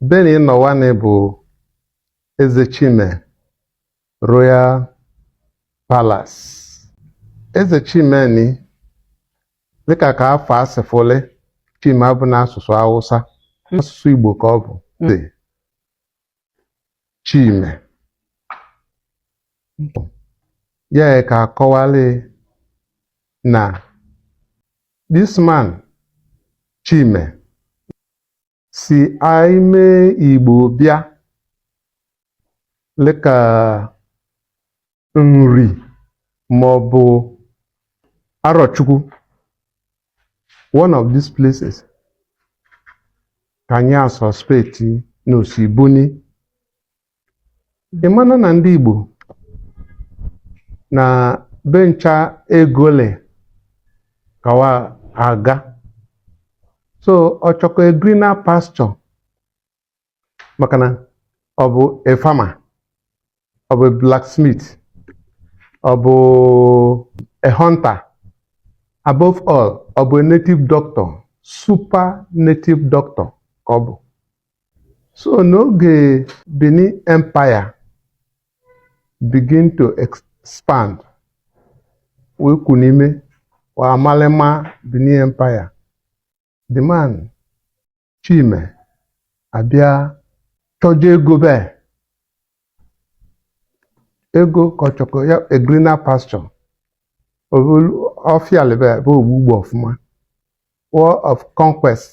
Beni ị nọ wani bụ Eze Chime Royal Palace. Eze Chimeni dịka ka afa a si fụlị Chime abụna asụsụ Awụsa asụsụ Igbo ka ọ bụ dị Chime ya ka a kọwalị na this man Chime si ime Igbo bịa lịka Nri maọbụ Arọchukwu one of these places ka anyị a-suspect na o si buni ị mana na ndị Igbo na be ncha ego lị ka wa aga so ọ chọkọ a greener pasture maka na ọ bụ a farmer ọ bụ a blacksmith ọ bụ a hunter above all ọ bụ a native doctor super native doctor ka ọ bụ so n'oge Benin Empire begin to expand wee kwu n'ime wa amalịma Benin Empire the man Chime abịa chọje ego be ego ka ọ chọkọ ya a greener pasture ọfịa lebe ebe ogbugbo ọfụma war of conquest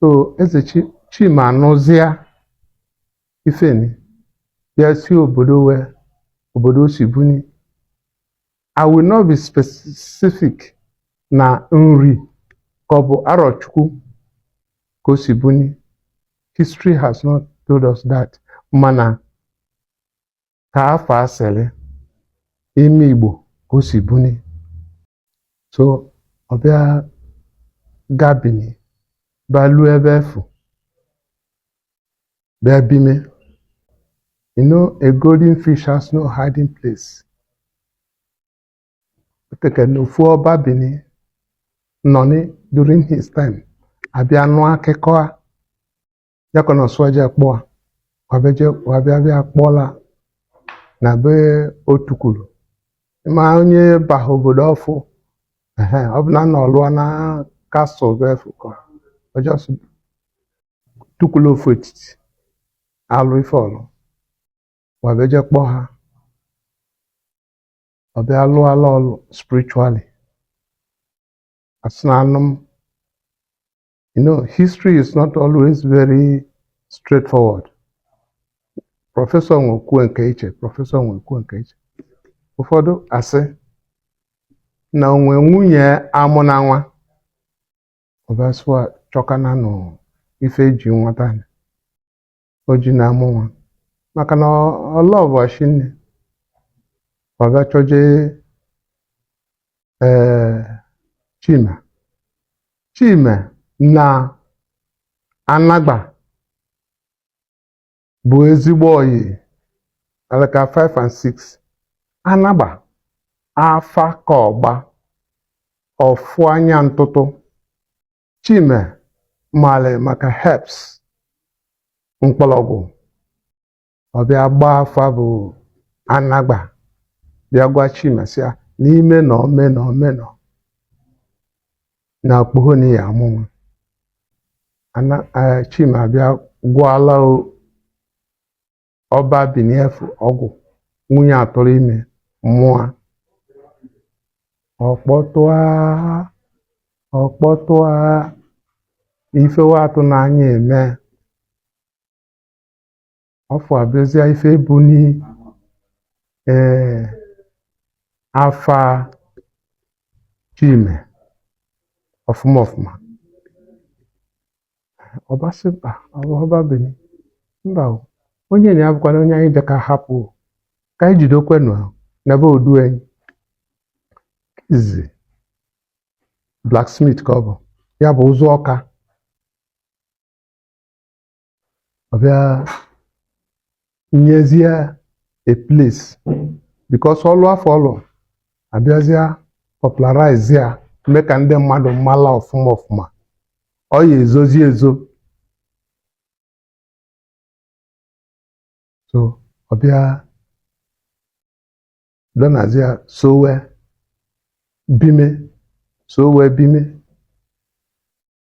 so Eze Chi- Chime anụzịa ifeni bịa si obodo we obodo o si buni I will not be specific na Nri ka ọ bụ Arọchukwu ka o si buni history has not told us that mana ka afọ asịrị ime Igbo ka o si buni so ọ bịa gaa Bini bịa luo ebe afụ bịa bime you know a golden fish has no hiding place teke na ofu Ọba Bini nọ ni during his time abịa nụ akụkọ a ya ka ọ nọ sị wa je kpọa wa bịa je- wa bịa bịa kpọla na be o tukwulu ma onye baha obodo afụ ehe, ọ bụ na nọ lụọ na castle be fụ ka ọ just tukwulu ofu etiti alụ ife ọ lụ wa bịa je kpọọ ha ọ bịa lụala ọlụ spiritually asị na anụ m You know, history is not always very straightforward. Prọfesọ nwa ekwuo nke iche, prọfesọ nwa ekwuo nke iche. Ụfọdụ asị na o nwe nwunye amụna nwa ọba sị wa chọkananụ ife eji nwata o ji na-amụ nwa maka na ọlọbọchi nne wa bịa chọje ee Chima Chima na Anagba bụ ezigbo oyi alaka 5 and 6 anagba afa ka ọgba ọfụ anya ntụtụ Chime mali maka herbs mkpọlọgwụ ọ bịa gbaa afa bụ Anagba bịa gwa Chime sị ya na ị mee nọ mee nọ mee nọ na okpoho nị ya-amụ nwa Ana- eh, Chime abịa gwọọla o- Ọba Bini afụ ọgwụ nwunye atụrụ ime mụọ ọkpọtụa ọkpọtụa ife wa atụ n'anya eme ọfụ abụzịa ife buni ee afa Chime ọfụma ọfụma Ọba sị Ọba Bini mba o onye nị ya bụkwana onye anyị bịaka hapụ o. ka anyị jidekwenụ a n'ebe odu anyị izi blacksmith ka ọ bụ ya bụ ụzụ Ọka ọ bịa nyezie a place because ọlụ afụ ọ lụ abịazịa popularize ya mee ka ndị mmadụ mala ọfụma ọfụma ọ ya ezozi ezo so ọ bịa donazi ya so wee bime so wee bime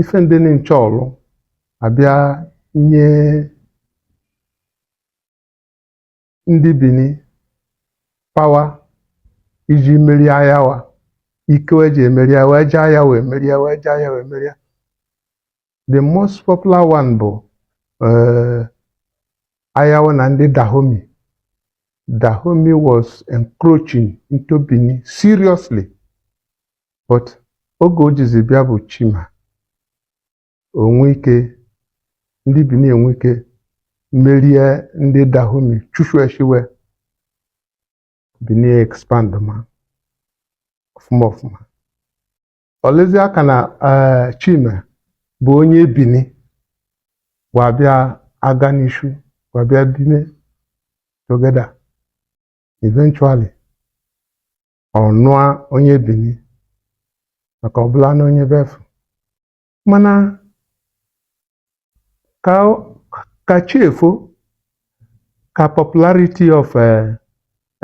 ife ndị nị ncha ọ rụ abịa nye ndị Bini pawa iji merie aya wa ike wa ji emeri aya wa jee aya wa emerie wa jee aya wa emerie. the most popular one bụ eh, aya wa na ndị Dahomey Dahomey was encroaching into Benin seriously but oge o jizi bịa bụ chima onwe ike ndị bini enwe ike merie ndị dahomey chụsue chiwe bini expand ma ọfụma ọfụma ọlezi aka na eh, chima bụ onye bini wa abịa aga n'ishu wa abịa bime together eventually ọ nụa onye bini maka ọ bụla na onye befu mana ka ka chi efo ka popularity of uh,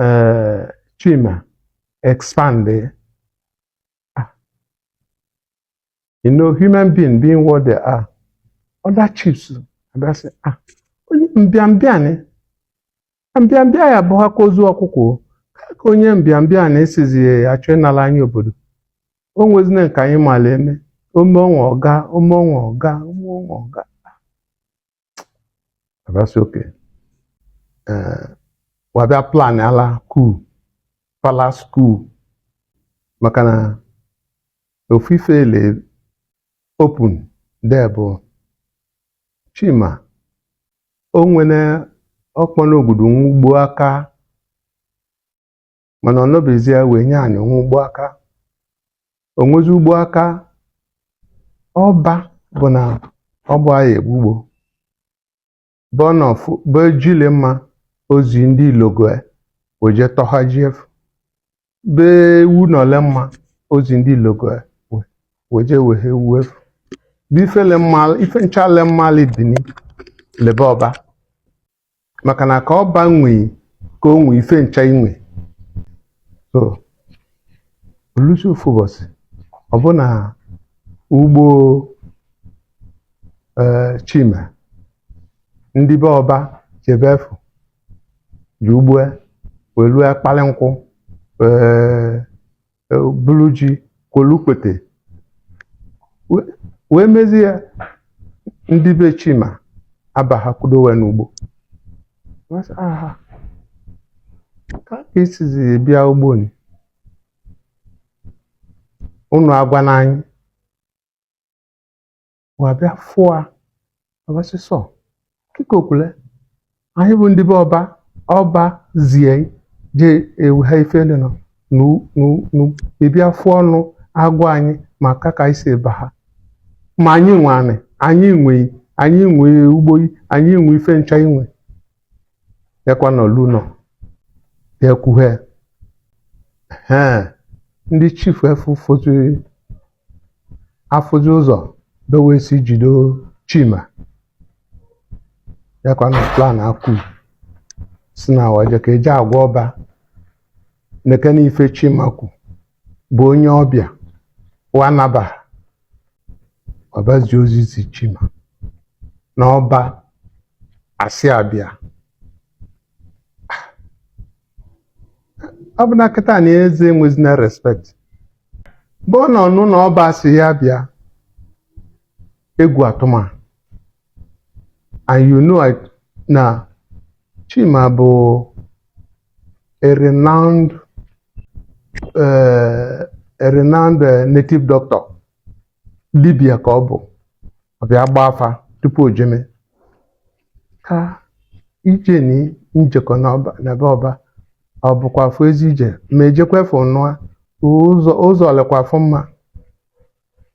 uh, chima expand ah. you know human being being what they are other chiefs abịa sị ah onye mbịambịanị mbịambịa ya bụ ha ka ozu ọkụkọ o. ka ka onye mbịambịa na esizi ya achọ ịnala anyị obodo o nwezina nke anyị mala eme ome ọnwa ọga ome ọnwa ọga ome ọnwa ọga abịa sị okay eh, wa abịa plan ala coup palace coup maka na ofufe ele open de bụ chima o nwere ọkpọrọ obodo ugbo aka mana ọ nọbezie wee nye anyị o nwe ugbo aka o nwezi ugbo aka ọba bụ na ọ bụ anyị egbu ugbo bọnọfụ bụ ejile mma ozi ndị ilogoe weje tọha ji efu be ewu na ole mma ozi ndị ilogoe we- weje wehe ewu efu bụ ifele mma ife nchale mmali bini lebe ọba maka na ka ọba nwe i ka o nwe ife ncha i nwe so o lusi ofu ụbọsị ọ bụ na ugbo ee chima ndị be ọba jebe efu je ugbo wee lua kpalị nkụ ee e, bulu ji kwolukpete wee mezie ya ndị be Chima abaha kwudo we n'ugbo Wee sị, "Aha, ka ka i sizi bịa ugbo ni unu agwana anyị wa abịa fụa abịa sị sọ kịka okwule anyị bụ ndị be ọba ọba zi anyị je ewu ha ife ele nọ nu nu nu ị bịa fụa ọnụ agwa anyị maka ka i si eba ha ma anyị nwe anị anyị nwe i anyị nwe ugbo i anyị nwe ife ncha i nwe ya ka ọ na-elu ụnọ ekwuhe ndị chief afụ fozi afụzi ụzọ be we si jido chima ya ka wa na plan ekwu si na wa je ka eje agwa ọba nekene ife chima kwu bụ onye ọbịa wa nabaha ọba ezi ozi zi chima na ọba asị ya bịa ọ bụ na kịta na eze enwezina respect bụ ọ na-anụ na ọba asị ya bịa egwu atụma and you know na Chima bụ a renowned uh, a renowned uh, native doctor dibia ka ọ bụ ọ bịa gba afa tupu o jeme ka ije ni njekọ n'ọba na be ọba ọ bụkwa afọ ezi ije ma ejekwa efu nụa ụzọ ụzọ lekwa afọ mma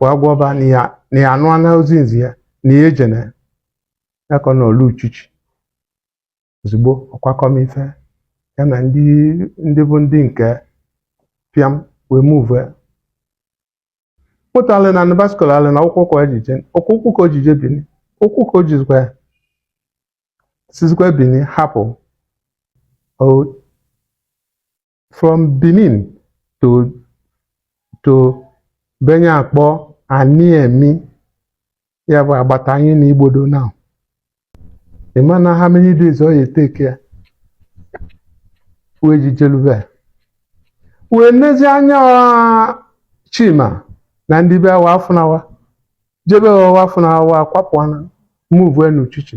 wee gwa ọba na ya na ya anụana ozi nzi ya na ya ejene ya ka ọ na-elu uchichi ozugbo ọ kwakọma ife ya na ndị ndị bụ ndị nke pịam wee move moto alịna nị bicycle alịna ụkwụ ka o ji je ụkwụ ụkwụ ka o ji je bini ụkwụ ka o jizikwa ya sizikwa bini hapụ o from Benin to to be anyị akpọ Aniemi ya bụ agbata anyị na Igbodo now ị ma na how many days ọ ya take ya wee ji jelu ebe wee nezi anya wa, Chima na ndị be ya wa afụna wa je be wa wa afụna wa wa akwapụana move n'uchichi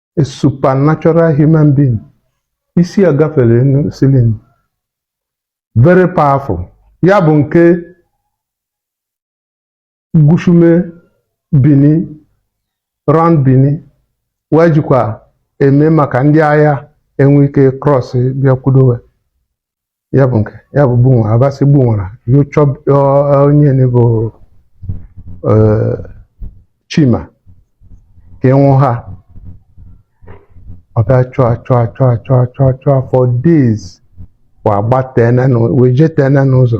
a supernatural human being isi ya gafere ceiling very powerful ya bụ nke gushume bini round bini wee jikwa eme maka ndị agha enwe ike cross bịakwudo wa ya bụ nke ya bụ Gbunwara ọba asị Gbunwara ya chụba ọ- onye ni bụ eh, chima ka e nwụ ha ọ bịa chụọ achụọ achụọ achụọ achụọ achụọ for days wa agbatena n'ụ- wa ejetena n'ụzọ